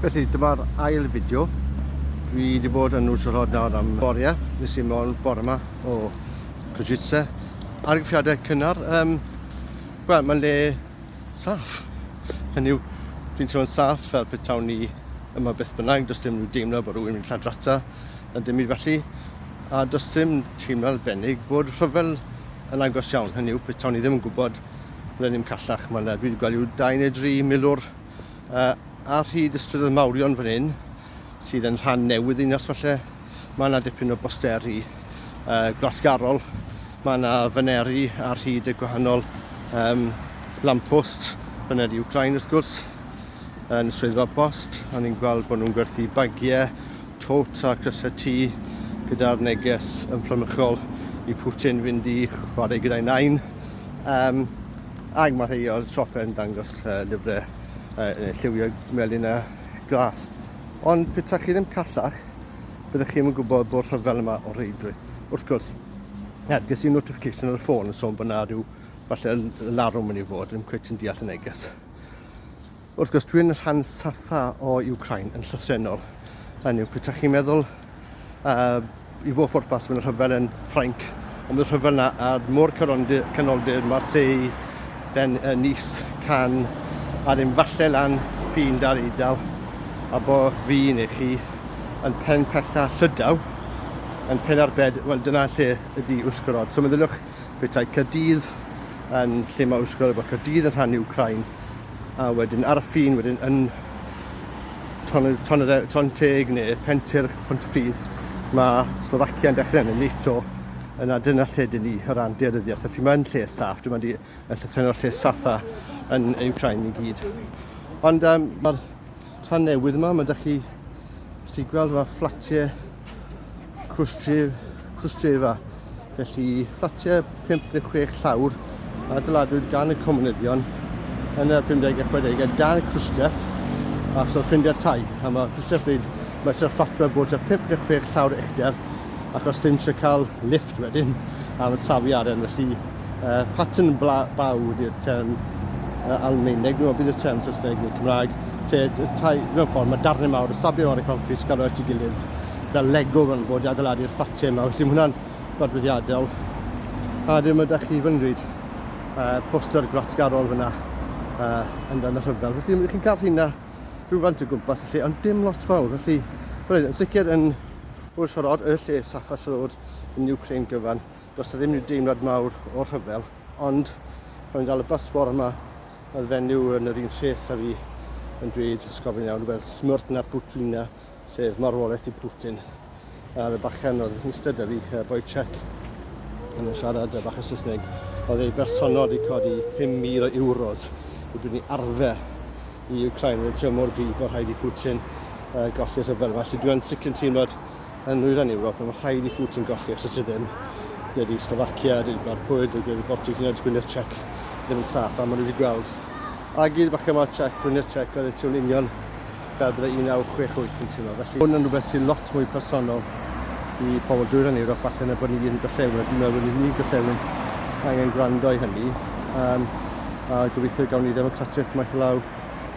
Felly dyma'r ail fideo. Dwi wedi bod yn nos rhod nawr am boria. Nes i mlaen bore yma o Kojitse. Argyffiadau cynnar. Um, Wel, mae'n le saff. Hynny yw, dwi'n teimlo'n saff fel petawn ni yma beth bynnag. Does dim rhyw deimlo bod rhywun yn lladrata na dim i felly. A does dim teimlo arbennig bod rhyfel yn agos iawn. Hynny yw, petawn ni ddim yn gwybod fydden ni'n callach. Mae yna, dwi wedi gweld yw dau neu dri milwr uh, ar hyd y strydoedd mawrion fan hyn, sydd yn rhan newydd un os falle. Mae yna dipyn o bosteri uh, gwasgarol. Mae yna faneri ar hyd y gwahanol um, lamppost, faneri Ukraine wrth gwrs, yn y swyddfa bost. A ni'n gweld bod nhw'n gwerthu bagiau, tot a crysau tŷ gyda'r neges ymfflamychol i Putin fynd i chwarae gyda'i nain. Um, ac mae rhai o'r siopau yn dangos uh, llyfrau uh, lliwio melyn a glas. Ond pethau chi ddim callach, byddwch chi'n yn gwybod bod rhyfel yma o reidrwydd. Wrth gwrs, er, ges i notification ar y ffôn yn sôn bod na rhyw falle larwm yn ei fod, ddim cweit yn deall y neges. Wrth gwrs, dwi'n rhan saffa o Ukraine yn llythrennol. Hynny yw, pwyta chi'n meddwl uh, i bob pwrpas mae'n rhyfel yn Ffrainc, ond mae'n rhyfel na ar môr canoldir Marseille, then uh, Nice, Cannes, a ddim falle lan ffin dar eidl, a bo fi neu chi yn pen pella llydaw, yn pen ar bed, wel dyna lle ydi wrth gorod. So meddyliwch Petai Caerdydd yn lle mae Ysgol bod Caerdydd yn rhan Ukraine a wedyn ar y ffin wedyn yn Ton, ton, ton Teg neu Pentyrch, Pontypridd, mae Slovacia yn dechrau yn y NATO yna dyna lle dyn ni o ran dearyddiaeth. Felly mae'n lle saff, dyma di yn llythrennol lle saffa yn Ukraine i gyd. Ond um, mae'r Rhan newydd yma, mae da chi sy'n gweld yma fflatiau cwstref, cwstrefa. Felly fflatiau 5 neu 6 llawr a dyladwyd gan y comunyddion yn y 50 a 60 a dan y cwstref a sy'n ffrindiau tai. A mae cwstref wneud, mae sy'n fflat mae bod 5 neu 6 llawr uchder ac os ddim sy'n cael lift wedyn am y safiaren. Felly uh, pattern baw ydy'r term uh, Almaeneg, dwi'n meddwl bydd y term Saesneg neu Cymraeg, lle y tai, mewn ffordd, mae darnau mawr, y stabio mawr y concret sy'n cael ei at ei gilydd, fel Lego fan bod i adeiladu'r ffatiau yma, felly mae hwnna'n godfyddiadol. A ddim ydych chi fy ngryd, uh, poster gwlatgarol fyna uh, yn dan y rhyfel. Felly ydych chi'n cael rhywna rhywfaint o gwmpas y lle, ond dim lot fawr, felly, yn sicr yn Wrsorod, y lle Safa Road yn Ukraine gyfan, Does 'na ddim rhyw deimlad mawr o rhyfel, ond pan fi'n dal y bus bore 'ma, mae'r fenyw yn yr un lles â fi yn dweud, os gofyn iawn, wel, smrt na Putina, sef marwolaeth i Putin. A oedd y bachgen oedd yn ystod â fi, uh, boi Czech, yn siarad y bach o Saesneg, oedd ei bersonol wedi codi 5,000 o euros i brynu arfe i Ukraine. Oedd y teimlo mor gryf bod rhaid i Putin uh, golli'r rhyfel yma. Felly dwi'n sicr yn teimlad Yn nwyrain Ewrop, mae'n rhaid i Putin golli os ydy ddim. Dydy Slovakia, dydy Gwlad Pwyl, dydy Gwlad Baltic, hyd yn Gwynedd Czech ddim yn saff, a maen nhw wedi gweld a gyd bach yma Czech, Gwynedd Czech, oedd y tiwn union fel byddai 1968 yn teimlo. Felly, hwn yn rhywbeth sy'n lot mwy personol i pobl dwyrain Ewrop, falle na bod ni'n gorllewin, a dwi'n meddwl bod ni'n gorllewin angen gwrando i hynny. Um, a gobeithio gawn ni ddemocratiaeth maith law,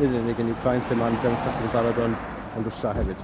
nid yn unig yn Ukraine, lle mae'n ddemocratiaeth yn barod, ond yn Rwysia hefyd.